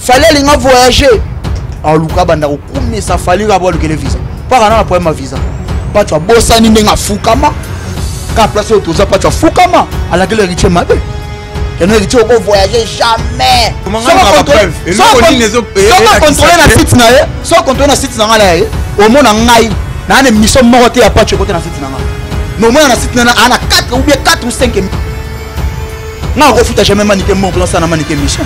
fali alinga voyage aluka banda kokumisa fali kabo alukele visa mpaka nana problème ya visa paco abosani ndenge afukama ka place oyo toza paco afukama alakeli héritier mabe yango héritier okovoyage jamais sokocontrole na site na ye sokocontrole na site na ngai na ye omona ngai naa na émission moko te ya paco ekote na site na ngai mais omona na site nana ana 4 ou bien 4 ou 5 ngai akofuta jamais manike moko lansa na manike émission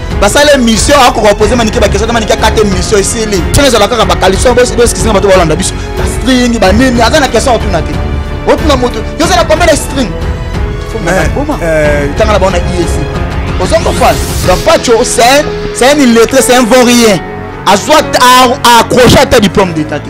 basala émission akoka pose manike bakestion te manike akata émission esili soki ezala kaka bakaliso boeskisinga bato balanda biso bastring banini aza na question otuna te otuna moto yo ozala kombe na string tanga na bango na iec oza kofana donc pacho c'est un illettré c'est un vaurien azwa accroche ata diplôme d'état te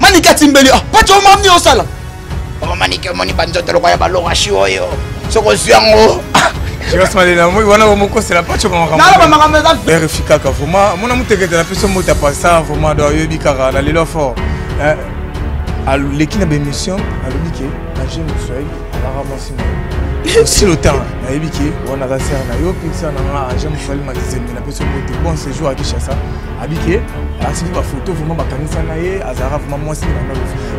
manike atimbeli ah, paco omamni osala mama manike omoni banzoto lokola ya balorasi oyo soki ozwi yango verifie kaka vraimen mona motekete na peso mota pasa vraimen do ayebi kaka na lelo fort eh, aleki na baémission alobi ke nage moswahili alaka mwasi moyo osi lotan nayebi ke wana aza sere na yo mpe sere na nga age moswahili makizembe na peso mote bon séjour akishasa abi ke asili bafoto vraimen bakanisa na ye azalaka vraimen mwasi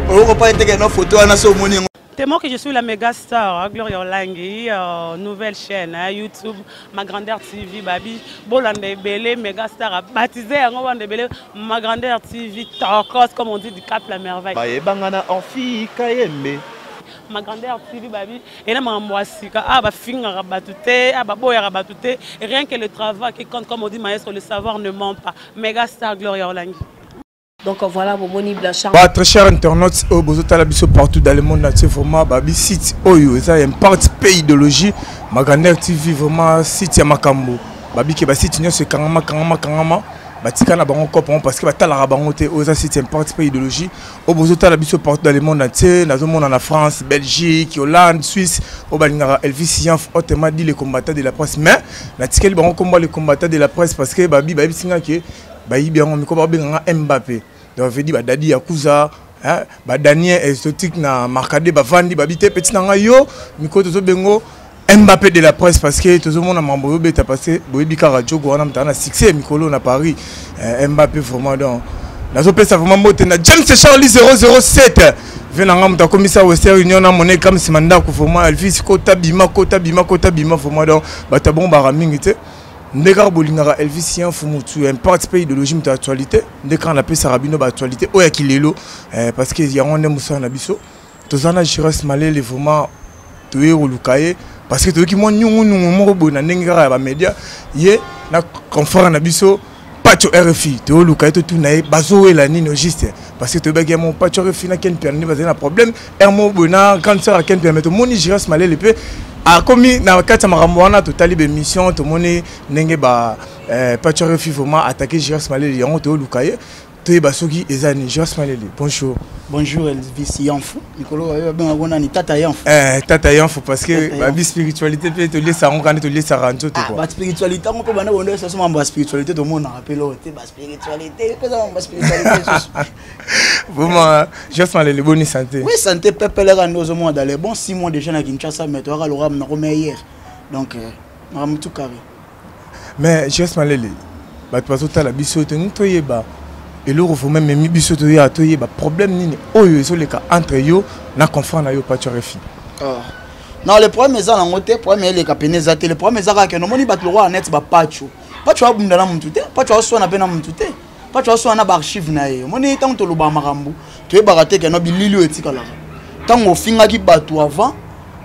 oyokopa eteke na foto wana so omoni yango Tellement que je suis la méga star, hein, Gloria Olangi, euh, nouvelle chaîne, hein, YouTube, ma grandeur TV, Babi, Bolande Ebele, méga star, baptisé à Bolande Ebele, ma grandeur TV, Torcos, comme on dit, du Cap la Merveille. Baye Bangana, Orphi Kayembe. Ma grandeur TV, Babi, ena makambo ya sika awa ah, bafingaka bato te awa ah, baboyaka bato te rien que le travail qui compte comme odi maestro le savoir ne ment pas mega star gloria olangi donc voilà bomoni blanchard ba très cher internautes oyo bozotala biso partout dans le monde entier vraiment babi site oyo eza imparte pe idéologie maganer tv vraiment site ya makambo babike basite nyonso ekangama kangama kangama batika na bango cope yango parce que batalaka bango te oyo eza site imparte pe idéologie oyo bozotala biso partout dans le monde entier nazomona na france belgique hollande suisse oyo balingaka elvis yanf autrement dit le combattant de la presse mais natikeli bango komba le combattant de la presse parce que babi bayebisi nga ke bayibi yango miko babenga nga mbappe donc vedi badadi yakuza hein, badanie exotique na marcade bavandi babi te peti na ngai yo miko tozobengo Mbappé de la presse parce que tozo mona mambo yo beta parce que boyebi kaka jogo wana mutana succès mikolo na Paris euh, Mbappé vraiment donc nazo pesa vraiment mbote na James Charlie 007 vena nga muta komisa Western Union na mona ekam sima ndako vraiment Elvis kota bima kota bima kota bima vraiment donc bata bon bara mingi te nde kaka bolingaka elvis ye mfu motu ya impacte mpe idéologie moto ya actualité nde kaka napesaka bino baactualité oyo ya kilelo eh, parce que yango nde mosala na biso toza na Giras Malele vraiment toye koluka ye parce que toyoki mwa nyungunungu moko boye na ndenge kaka ya bamédia ye na confrère na biso pacho rfi toyoluka ye totuna ye bazowela nini au juste parce que toyebaki ya mo pacho rfi na ken piano nde bazali na problème r moko boye na grande sœur ya ken piano mais tomoni giras malele mpe akomi na kati ya makambo wana totali baémission tomoni ndenge ba eh, pacho rfi vraiment attaqué giras malele yango toyoluka ye toyeba soki eza ni joas malele bonjour bonjour elvis yanfu mikolo oyo babenga ngo nani tata yanfu eh, tata yanfu parce que babi spiritualité mpe toliesa yango kani toliesaka nzoto ah, baspiritualité yango mpe banda bondo esaso mambo ya spiritualité tomonaka mpe loo te baspiritualité mpeza mambo baspiritualité susu vraiment joas malele boni santé oui santé pepeleka nde ozomona dans les bon six mois déjà na kinshasa mais toyaka loramu nakomea hier donc euh, makambo tout carré mais jos malele bato bazotala biso ete ngi toyeba eloko vraimen memi biso toya toyeba problème nini oyo ezoleka entre yo na confrant na yo paco refi ah. non le problème eza nango te problème eleka pene eza te le problème eza kaka kende omoni bato lokola net bapaco paco abunda na motu te paco aswana mpe na motu te pacho aso wana ba archive na ye omoni ntango tolobaka makambo toyebaka te keno bilili oyo etikalaka ntango ofingaki bato avant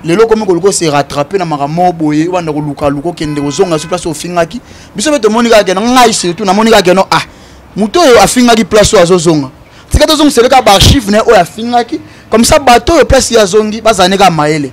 lelo okomi koluka ose rattrape na makambo moko boye obanda kolukaluka okende kozonga so place ofingaki biso mpe tomoni kaka keno ngai surtout namoni kaka keno ah moto oyo afingaki place oyo azozonga tika tozongisele kaka baarchive na ye oyo afingaki comme ça bato oyo place ye azongi bazala ne kaka mayele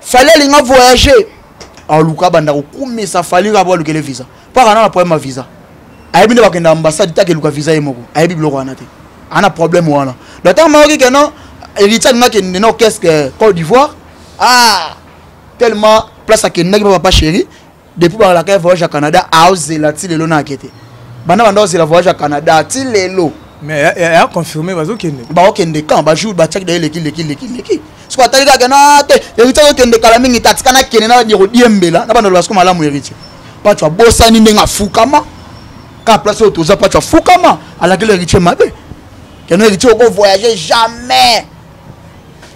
fali alinga voyage aluka banda kokumisa fali kaka po alukele visa mpo akana na problème ya visa ayebi nde bakenda ambassade te akeluka visa ye moko ayebi biloko wana te ana problème wana donc ntango mayoki ke non héritier alinga akende na orchestre côte d'ivoire ah tellement place akendaki mpo papa chéri depuis bakalaka ya voyage ya canada aozela ti lelo na ake te banda banda ozela voyage ya canada ti lelo mais ya confirme bazokende baokende quand bajour batiaki daye leki leki leki leki soki atali kaka na te héritier azokende kala mingi te atika nakende na bandi kodiembela na banda loba soko malamu héritier pacho abosani ndenge afukama kaka place oyo toza pacho afukama alakeli héritier mabe keno héritier okovoyage jamais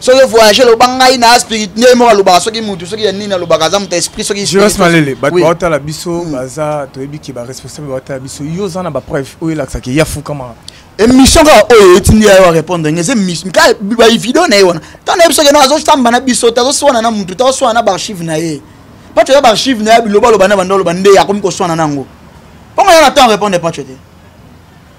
soki voyage loba ngai na spirit nde moko alobaka soki mutu soki ya nini alobaka aza moto esprit soki jos malele bato baotala biso hmm. baza toyebi ke baresponsable baotala biso yo oza na bapreuve oyo elakisaki ya fukama émission kaka oyo etindi ya yo arépondre nge eza émission ka bavideo na ye wana ntango nayebi soki no azosamba na biso te azoswana na mutu te azoswana na baarchive na ye paco ya baarchive na ye bilobaloba na banda oloba nde akomi koswana na yango mpongo ya na temps arépondre paco te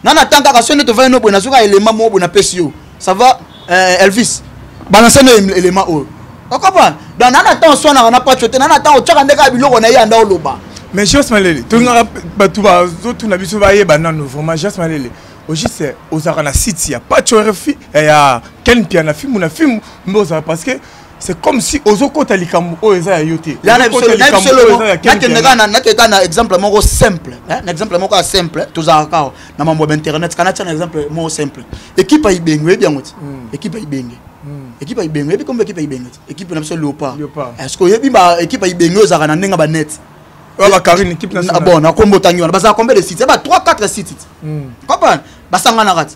nga na temps kaka soki nde tovandi no boye nazwi kaka elema moko boye napesi yo ça va euh, elvis balanse no elema oyo okopa donc nana ntango oswanaka na paco te nana ntango otyaka nde kaka biloko na ye anda oloba mais jos malele tolingaka bato bazotuna biso bayeba nano vraiment jos malele ojuse ozalaka na site ya paco rfi eh, ya ken piana fimu na fimu mbe ozala parce que c'est comme si ozokota likambo oyo eza ya yo te nakendaka na exemple moko simple hein, na exemple moko ya simple tozalaka kawa na mambo ya internet kana tia na exemple moko simple ekipe ya ibenge oyebi yango ti hmm. ekipe ya ibenge hmm. ekipe ya ibenge oyebi kombo ekipe ya ibenge ti ekipe na biso leopard est-ce que oyebi ba ekipe ya ibenge oyo ezalaka na ndenge ya banete bon na kombo otangi wana bazalaka combien de sites eba 3 4 sites ti hmm. comprendre basanganaka ti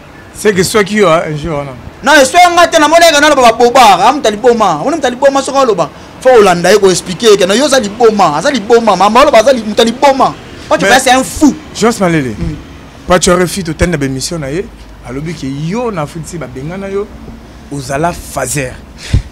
seke swaki yo un jour wana na eswaki nga te namoni eke naloba babobara amuta ah, liboma amoni muta liboma soki aloba fo olanda ye koexplike eke na yo oza liboma aza liboma mama oloba aza muta liboma oyo basi un fou jos malele hmm. paco refi totali na bemission na ye alobi ke yo na afrique si babengana yo ozala fazer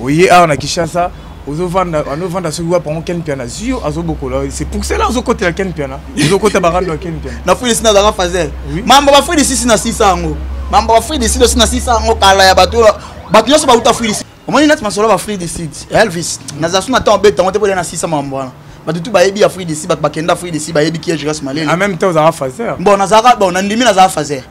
oye awa na kinshasa ozovanda anovanda soki wapi yango ken mpiana zio azobokola c'est pour cela ozokotela ken mpiana ozokota barando ya ken mpiana na fridisi na azalaka fazer mambo ba fridisi si na sisa yango mambo ba fridisi dosi na sisa yango kala ya bato bato nyonso bauta fridisi omoni nati masolo ba fridisi elvis nazala so na temps obeta yango te bolia na sisa mambo wana bato tu bayebi ya fridisi bato bakenda fridisi bayebi kiege ras malele en même temps ozalaka fazer bon nazalaka bon nandimi nazalaka fazer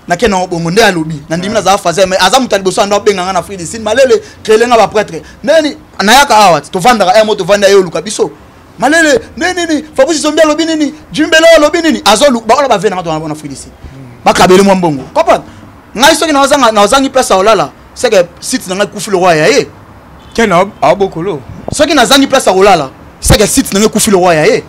nake nango bongo nde alobi nandimi nazala fazer mais aza moto ya liboso ando abenga nga na afrique du sud malele krele nga bapretre neni nayaka awa tovandaka emo tovanda ye oluka biso malele nde nini fabrice zombi alobi nini jimbelo alobi nini azoluka baola bave nanga tona bona afrique du sud bakabeli mwa mbongo comprendre ngai soki nazangi place ya olala seke site na ngai ekufi lokola ya ye ken abokolo soki nazangi place ya kolala seke site na ngai ekufi lokola ya ye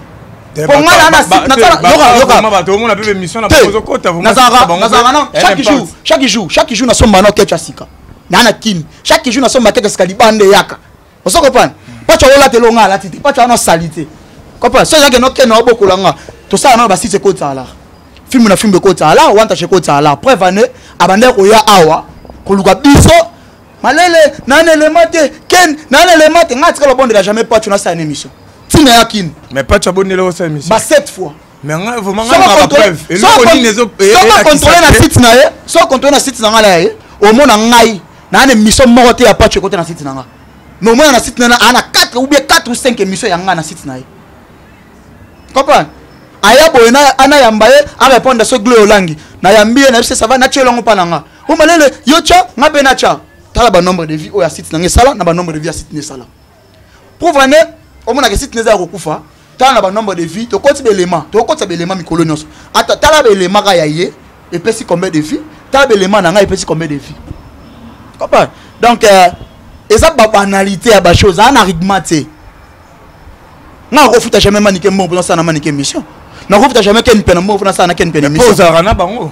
chaque jour nasombana oketya sika naa na kini chaque jour nasomba keke sika libanda eyaka ozo comprendre pacho olata eloko ngai alati te pacho wana osali te comprendre soki ezalaki noke na obokola nga tosala nano basite ekotsala filme na filme ekotsala wantache ekotsala preuve ane abandaki koya awa koluka biso malele naa na elema te ken naa na elema te ngai atikala obondela jamais pacho nasala na émission ntina ya kini mais pacho abondela osala émission ba sept fois mais nga vraiment nga na preuve eloko nini ezo soko contrôler na site na ye soko contrôler na site na nga la ye omona ngai na ne mission moko te ya patch côté na site na nga mais omona na site na na ana 4 ou bien 4 ou 5 émissions ya nga na site na ye comprendre aya boye na ana yamba ye a répondre so gloire olangi na yambi ye na yebisa ça va na tielo ngo pa na nga o malele yo cha nga pe na cha tala ba nombre de vie oyo ya site na nga esala na ba nombre de vie ya site na esala prouve ane omonaka esiti neza ya kokufa tala na banombre de vie tokoti belema tokokotisa belema mikolo nyonso ata tala belema ka ya ye epesi combien de vie tala belema na ngai epesi combien de vie comprendre donc euh, eza babanalité ya bachose aa na rigma te nga nakofuta jamais manike mbongo mpo nasala na manike émission nakofuta jamais ken pena mbongo mpo nasala na ken pena émission ozalaka na bango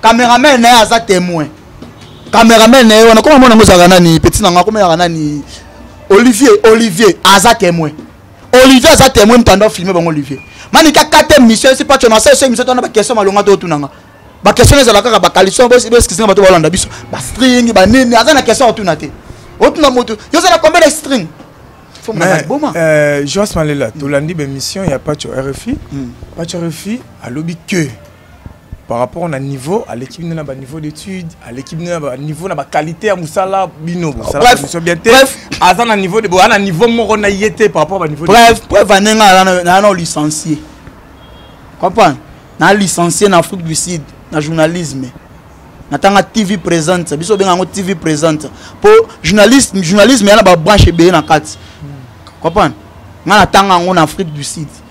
cameraman na ye aza temoin cameraman na ye wana koma mwana ngo ezalaka nani petit na nga koma ezalaka nani olivier olivier aza temoin olivier aza temoin moto anda filme bango olivier manika kate mission esi paco na sese mission twana baquestion malonga to otunanga baquestion ezala kaka bakalison boeskisinga bato balanda biso bastring banini aza na question otuna te otuna moto yo ozala combien de string euh, joas malela tolandi bemission ya paco rfi hmm. paco rfi alobi que par rapport na niveau aleki bino na baniveau d'étude aleki bino na baniveau na baqualité ya mosala bino bosalamiso bien te aza na niveau boa na niveau moko na ye te par rapport baniveau bref preuve ane nga naa na licencie comprendre naa licencie na afrique du sud na journalisme natanga tv présente biso obenga yango tv présente mpo journalisme journalisme ya na babranche ebele na kati comprendre nga natanga yango na afrique du sud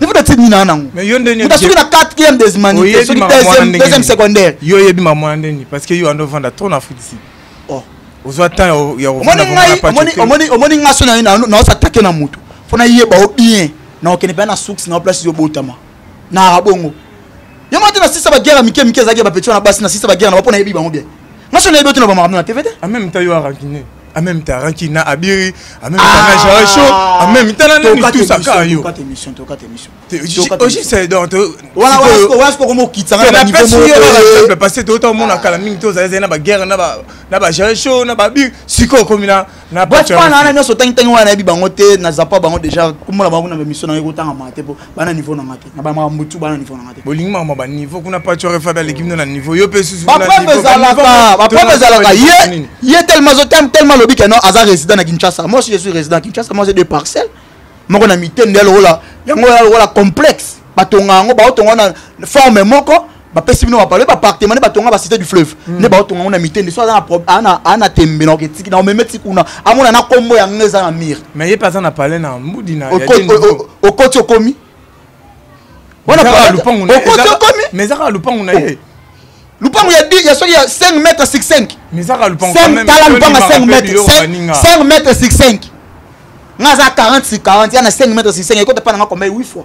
nefuta ti nina nango muta soki na quatrième des humanité soki deuxième secondaire yo oyebi mamona nde nini parce que yo ando vanda trop na afrique du sud oh. ozwa temps ya omoni nga so naosatake na motu mpo nayeba o bien naokende mpenza na suks na place ezobotama naka bongo yo moko te na sisa baguerre ya mike mike ezalaki ya bapeti wana basi na sisa baguerre na ba mpo nayebi bango bien nga so nayebi otina bamakambo na tv te en même temps ranki na abiri en même temps na jacho ah! en même temps na nani tout ça ka yo pas émission to pas émission oji c'est donc voilà voilà voilà ce qu'on quitte ça na niveau mo euh, parce que tout le monde a kala mingi to za na ba guerre na ba na ba jacho na ba bi siko komi na na ba tu pas na na so tang tang wana bi bango te na zapa bango déjà comme la bango na émission na ko tanga mate po bana niveau na nga te na bamaka mutu bana niveau na nga te bolingi mama ba niveau kuna pacho refa da l'équipe na niveau yo pe susu ba papa ezalaka ba papa ezalaka ye ye tellement zo tellement tellement lobi que non aza résident na Kinshasa moi aussi je suis résident Kinshasa moi j'ai deux parcelles moko na mitende ya lokola yango ya lokola complexe batonga yango baotonga na forme moko bapesi bino bapalo ba appartement nde batonga ba cité du fleuve hmm. nde baotonga ngo na mitende so aza ana tembe naoke tiki na omeme ti kuna amona na nkombo yango eza na mire mais ye mpe aza na pale na mbudi na okoti okomi okoti okomi mais ezaka lupangu na oh. ye lupangu ya di ya soki ya 5 mètre sur 5 tala lupangu ya 5 mètre 5 mètre sur 5 nga aza 40 sur 40 ya na 5 mètre sur 5 ekota mpa na nga kombe 8 fois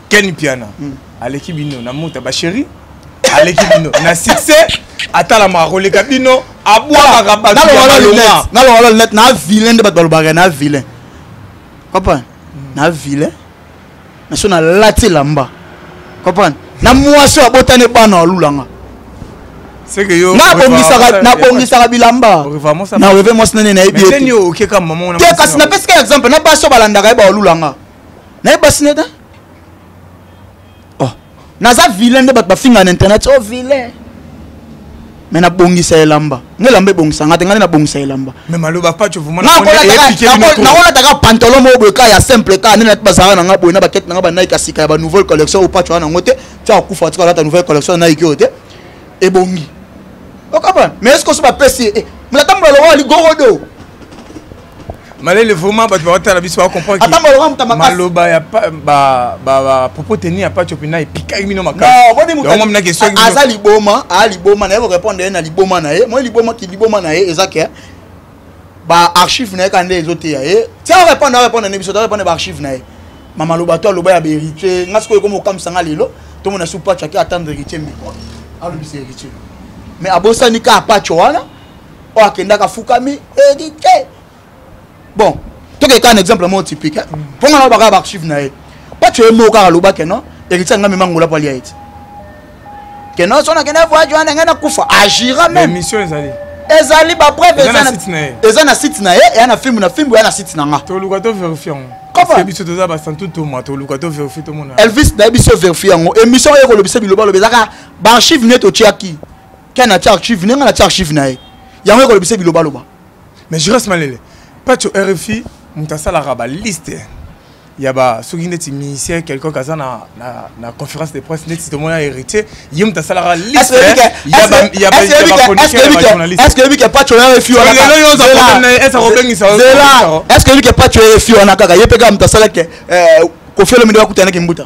Ken Piana mm. aleki bino na mota ba chérie aleki bino na succès atalama akoleka bino abwakaka bato ya balonga nalonga lunette na vilain nde bato balobaka na vilain comprendre mm. na vilain na so nalati elamba comprendre na mwasi oyo abotani bana alulanga nabongisaka bilamba na reve mwasi nene nayebi te kasi napesika exemple na basi oyo balandaka ye baolulanga naye basi nde ta oh. naza vilain nde bato bafinga na internet oh vilain me nabongisa elamba nge elamba ebongisa nga te ngai nde nabongisa elamba nakolataka pantalo moko boye kaka ya simple kaka nde bazalaka na ngai boye na bakete na ngai banaiki ya sika ya banouvelle collection oyo paco wana yango te tia akufa tika alata nouvelle collection naiki oyo te ebongi okabana mais eske oso bapesi ye eh, mlata mbala lokola ligorodo malele vraiment bato bakotala biso bakomprendmaloba ya propos teni ya paco mpena epikaki bino makasiaza liboma aa liboma na ye korepondre ye na liboma na ye moi liboma ki liboma na ye eza ke baarchive na ye kaka nde ezoteya ye ti arepondre arepondre ne biso torepondre baarchive na ye mamaloba to aloba ya baheritier nga sikoyo ekomi kokamwisa nga lelo tomona su paco ake atendre heritier miko alobisa heritier mais abosani ka paco wana oyo akendaka afukami edite bon tokeka na exemple moko typique mpo nga nalobaka baarchive na ye pacho ye moko kaka alobake non héritier anga mema ngola mpo alia ete ke non so nakende voyage wana ngai nakufa agira mememission ezali ezali bapreuve eza na site na ye eya na filme na filme eya na site na nga toluka to verifie yango biso toza basantu toma toluka to verifie tomona elvis nayebi so verifie yango émission oyo ekolobisa bilobaloba ezaka baarchive nde totiaki ken atia archive ndenge natia archive na ye yango ekolobisa bilobaloba mais juras malele pacho rfi moto asalaka baliste ya ba soki ndeti ministère quelconque aza na, na, na conférence de presse ndeti tomona héritier ye moto asalaka listeyabaconditionyabajournalistece que yebi ke pacho ya refi wanalelo yo ozaesa kobengisa est ce que yebi ke pacho ya refi wana kaka ye mpe kaka moto asalaki kofielo mindo akutanaki mbuta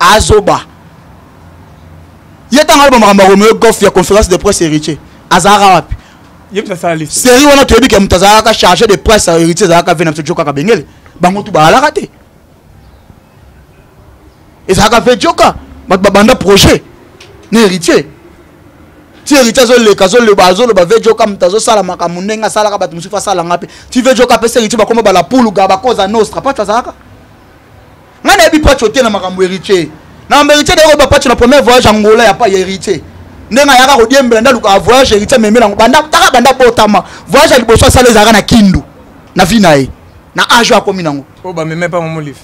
azoba ye ntango aloba makambo ya romeo gof ya conférence de presse héritier azalaka wapi série wana toyebi ke moto azalaka chargé de presse ya héritier ezalaka ve na biso jokaka bengele bango tu balalaka te ezalaka ve joka bato babanda projet na héritier ti héritier azoleka azoloba azoloba ve joka moto azosala makambo ndenge asalaka bato mosusu asalanga mpe ti ve joka apesa héritier bakoma balapuluga bakoza nostra pati azalaka nga nayebi pacho te na makambo héritier na makambo héritier dayoko ba pacho na premier voyage angola ya pa ya héritier ndenge ayaka kodiembela nde alukaka voyage héritier amemela yango banda taka banda botama voyage ya liboso asala ezalaka na kindu na vi na ye na age oyo akomi nango oyo bameme pa momolive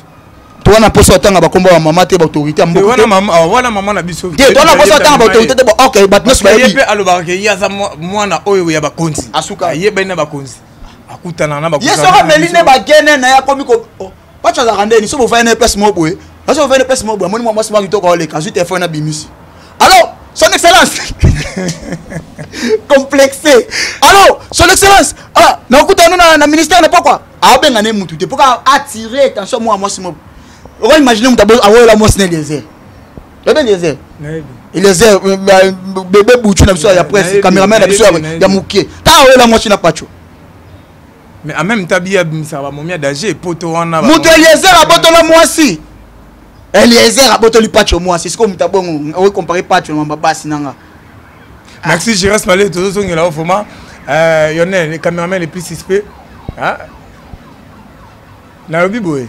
to wana mposa otanga bakombo ya mama te baautorité ya mbokawana mama na biso te to wana mposa otanga baautorité te ok bato nyonso bayebi mpe alobaka ke ye aza mwana oyo ya bakonzi asuka ayebani na bakonzi akutana na bakonzi ye soko ameli nde bagene na ye akomi ko oh. pacho azalaka ndeni so bovandi na place moko boye naso bovandi na place moko boye amoni mwa mwasi mwa kitoko aoleka azwi telefone na bimisi alors son excellence complexe alors son excellence ah, nakokuta no na, na ministère na pokwa aobenga ne mutu te mpo ka attire attention mwa mwasi moko oka imagine mutu awoyola mwasi na eliezer oyebi eliezer eliezer bebe butu na biso ya presse cameraman na biso ya moke ntango awoyola mwasi na pacho mais en même temps biya bimisaka bamomi ya danger poto wana moto eliezer abotola mwasi eliezer abotoli pacho mwasi sikoyo moto abongo okoki compare pacho na mamba basi nanga merci giras male tozozongela yo vraimen euh, yonel le cameraman le plus suspect nalobi boye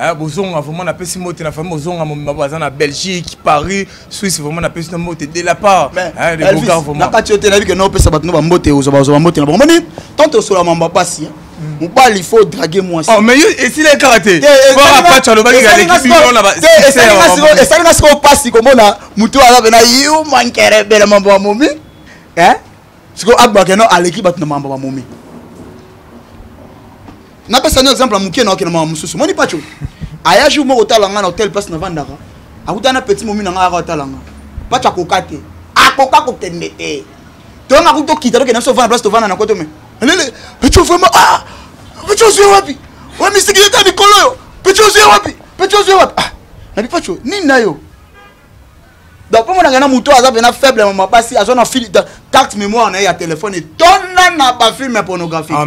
Eh, bozonga vraiment napesi mbote na famille bozonga momema baza na belgique paris suisse vraiment napesi na mbote de la part na kati yo te nayebi ke na opesa bato no bambote ozwa bazwa bambote na bango moni tant osola mambo ya mpasi eh. mobali faut drague mwasi oh, mais yo esila ye kaka te apacho alobaki alekisi bino na esali nga sikoyo mpasi komona motu aza pena yo mankerebele mambo ya momi eh? sikoyo agbakeno aleki bato na mambo bamomi napesa no exemple ya moke na okenda mama mosusu moni paco aya jour moko otala ngai na hotel place navandaka akuta na petit momi na ngai aka otala ngai paco akoka te akoka kokende te tonga kuta okita tokenda biso ovanda place tovanda na koto me lele paco vraiment ah paco ozwi wapi oya misiki yeta mikolo oyo paco ozwi wapi paco ozwi wapi ah nabi paco nini na yo donc mpo monaka na moto aza mpena faible mama basi aza na fil carte mémoire na ye ya telefone etonda na bafilme ya pornographie ah,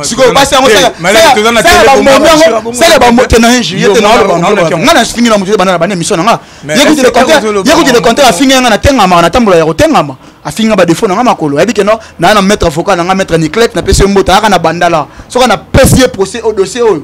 sikoyo basi yangosala bamotena ye juillet te naolobanga na fingi na moto banda na bana émission na nga yekuti le contraire afingi yanga natengamaka natambola ya kotengama afingi nga badefo na nga makolo ayebi ke no naa na maître avocat na nga maître niclete napesi ye mboto ayaka na bandala soki napesi ye procès o dossier oyo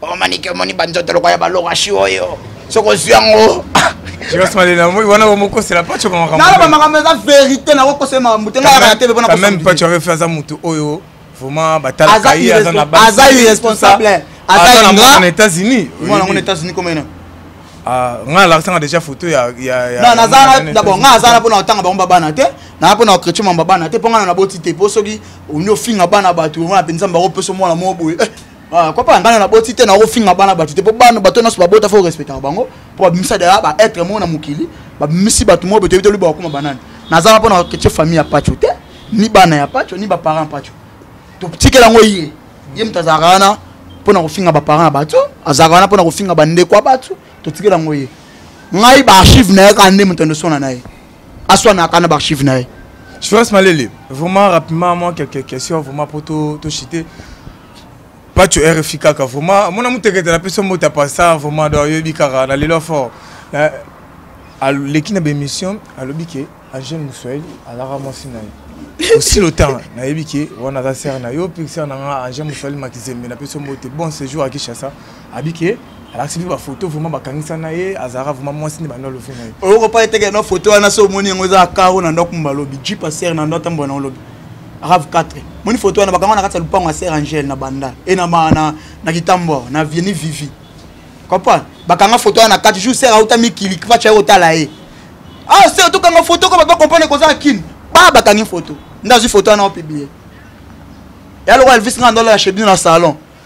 Papa Manike omoni ba nzoto lokola ya ba lokashi oyo. Soki ozwi yango. Jonas Malena moi wana ba mokosela pacho ba makambo. Na ba makambo eza verite na kokosela makambo te ngai ya tebe pona ko. Même pacho refi aza mutu oyo vraiment batala kai aza na ba. Aza irresponsable. Aza na mwana na États-Unis. Mwana na États-Unis comme ena. Ah, ngai alakisanga déjà photo ya ya naza dabord ngai aza na mpona kotanga bango babana te naa mpona kokretio mama babana te mpo ngai na naboti te mpo soki ondi ofinga bana bato wana mpenza mbango mpeso mwana moko boye eh, Ah, papa ngai na boti te nakofinga bana bato te mpo bana bato nyonso babota fo respectaka bango mpo babimisa daya ba être moko na mokili babimisi bato moko betoyebi toluba bakoma banani nazala mpo na ketye famille ya paco te ni bana ya paco ni baparent paco totikela yango ye ye moto azalaka wana mpo na kofinga baparent ya bato azalaka wana mpo na kofinga bandeko ya bato totikela yango ye ngai baarchive na ye kaka nde moto endosona na ye aswanaka na baarchive na ye Jonas Malele, vraiment rapidement, moi, quelques questions, vraiment, pour tout, tout chiter. Pas tu RFI Kaka, vraiment. Mon amour, t'es que la personne, moi, t'as pas ça, vraiment, dans Yobi Kara, dans l'élan fort. L'équipe d'émission, à l'obike, à Jean Moussouel, à Lara Monsinaï. Aussi le temps, na yebike, on a la serre, na yo, puis serre, na Jean Moussouel, ma kizembe, na personne, moi, t'es bon séjour à Kishasa. abi ke alakisi biso bafoto vraimen bakangisa na ye azalaka vraimen mwasi nde banda alobi na ye oyokopa eteke na foto wana so omoni yango eza akaro na ndako mba alobi jipa sere na ndo atambola na olobi rave 4 moni foto wana bakanga na kati ya lupango ya sere angele na banda e na, na, na kitambo na vieni vivi comprendre bakanga foto wana na kati jour sere auta mikili kipacha ye kotala ye ah sere tokanga foto ko bato bakomprendre kozala kini ba bakangi foto nde azwi foto wana opiblie ya lokola elvis nga ndolala chez bino na salon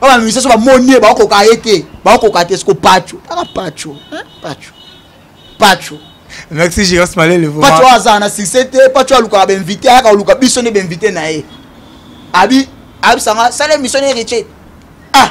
oyo bamimisa so bamoni ye baokoka ye te baokoka te siko paco taka paco paco paco merci giras malele paco azala na succès te paco alukaka bainvité ayaka koluka biso nde bainvité na ye abi abisanga sala émission na héritier ah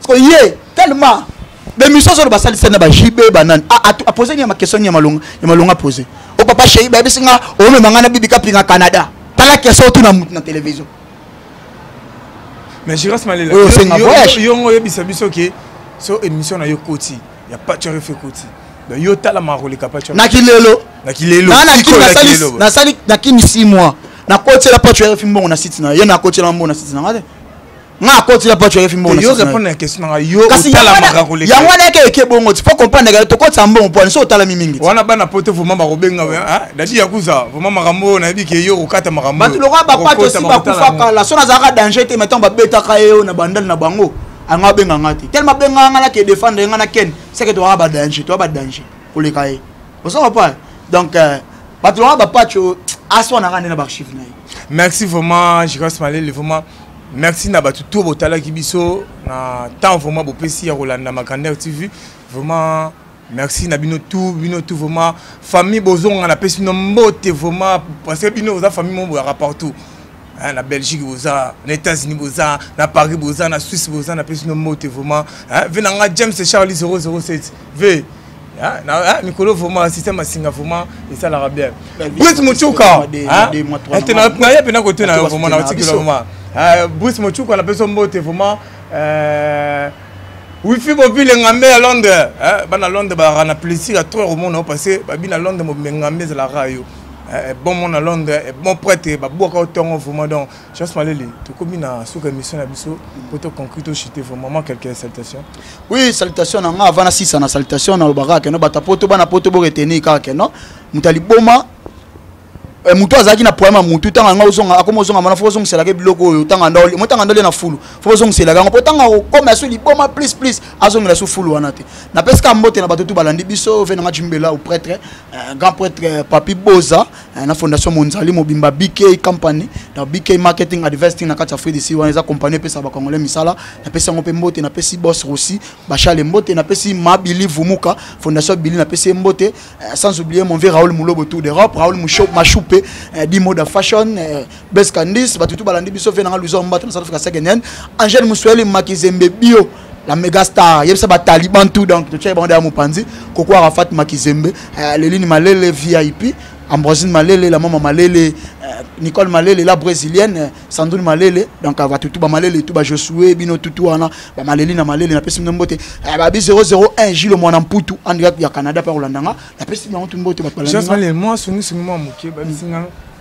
sikoyo ye tellement bemission azoloba asalisani na bajb banani apose ni ya makestion ya malonga ya malonga apose o oh, papa shei bayebisi nga omema oh, nga na bibi kapinga canada tala kestion otuna motu na télévision mais jiras malela oyo osenga voyage yongo oyebisa biso ke so émission na yo koti ya pature efe koti donc yo tala makoleka pature na kilelo na kilelo nasali na kini 6 mois nakotiela pature efe mbongo na site na ye nakotiela mbongo na site na nga te nga akoti na pacho yefi mbongo yo répondre na question nga yo kasi yango wana yake eke bongo ti po comprendre ka tokotisa mbongo po anso otalami mingi wana bana poto vraiment bakobenga ah, dadi yakuza vraiment makambo oyo nayebi ke yo okokata makambo bato lokola bapacho osi bakufa kala so nazalaka danger te maintenant babetaka ye oyo na bandali na bango yango abenga nga te tellement abenga nga nake défendre nga na ken seke toyaka badanger toya badanger koleka ye osoko pa donc euh, bato lokola bapacho aswanaka nde na baarchive na ye merci vraiment jicas malele vraiment Merci na batu to botalaki biso na temps vraiment bopesi ya kolanda Makander TV vraiment merci na bino tout bino tout vraiment famille bozonga na pesi no mbote vraiment parce que bino oza famille moko boyaka partout hein, na belgique boza na états-unis boza na paris boza na suisse boza na pesi no mbote vraiment hein, ve na nga james charlie 007 ve Hein? Hein? mikolo vraiment système asinga vraiment esalaka bien bruce mocuka naye mpena kote na yo vraiment naotikela vraiment bruce mocuka napesa mbote vraiment euh, wifi bobile ngambe ya londres bana londres balaka na plaisir ya trop omona yo parce babi na londres mobile ngambe ezalaka yo bon mona londres bon prêtre babwaka yo ntongo vraiment donc Chance Malele, tu commis na sous émission na biso pour te conclure to chiter vraiment quelques salutations. Oui, salutations na nga avant na sisa na salutations na lobaka que no bata poto bana poto bo retenir kaka que no mutali boma eh, mutu azalaki na problème ya mutu ntango yango ozonga akoma ozonga mana fo ozongiselaka biloko oyo ntanga ndoli mo ntanga ndoli na fulu fo ozongiselaka yango mpo ntango akokoma ya so liboma plus plus azongela so fulu wana te napesika mbote na bato tu balandi biso ve nanga jimbela au prêtre eh, grand prêtre eh, papi boza Eh, na fondation monzali mobimba bk company na bk marketing advesting na kati ya fridi si wana eza compagnie epesaka bakongole misala napesi yango mpe mbote napesi bos rosi bashale mbote napesi mabili vumuka fondation bili napesi ye mbote eh, sans oublier mon vie raoul mulobo tour d'europe raoul mashupe eh, dimoda fashion beskandis bato tu balandi biso ve nanga luisa mbata na south africa second hand angel musweli makizembe bio la mega star yebisa ba taliban tout donc to tshai bande ya mupanzi koko arafat makizembe euh, lelini malele vip ambrosine malele la mama malele euh, nicole malele la brésilienne euh, sandrine malele donc euh, batutu bamalele tu bajosue bino tutu wana bamaleli na malele napesi bino mbote euh, babi 001 jilo mwana mputu andika ya canada mpe akolanda nga napesi bango tu mbote bato balandi nga. Jasmine, moi, songi songi moi moke, babisi nga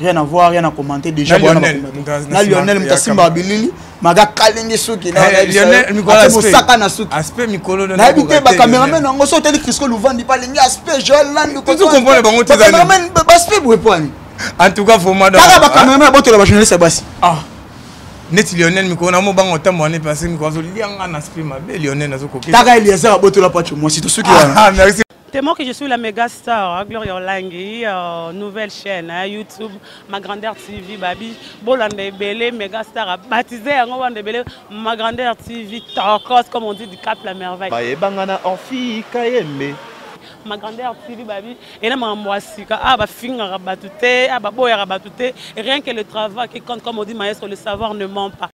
rien à voir rien à commenter déjà bwana na Lionel mutasimba abilili maga kalingi suki na eh, Lionel mikolo mosaka na suki aspect mikolo na yebi te ba cameraman yango so teli Crisco Luvandi pa lingi aspect Joël Landu ko tu comprends bango te zali cameraman ba aspect boye poani en tout cas vraiment donc ba cameraman ah. botola ba journaliste basi ah neti lionel mikolo na mobanga otambo ane pase mikolo azolianga na aspect mabe lionel azokoketaka eliazer abotola pacho mwasi tosuki wana ah, ah, T'es mort que je suis la méga star, hein, Gloria Olangi, euh, nouvelle chaîne, hein, YouTube, ma grandeur TV, Babi, Bolanda Ebele, méga star, baptisé à Ngobanda Ebele, ma grandeur TV, Torcos, comme on dit, du Cap la Merveille. Baye Bangana Orphi Kayembe. Ma grandeur TV, Babi, et là, ma moissika, ah, ba finga rabatouté, ah, ba boya rabatouté, rien que le travail qui compte, comme on dit, maestro, le savoir ne ment pas.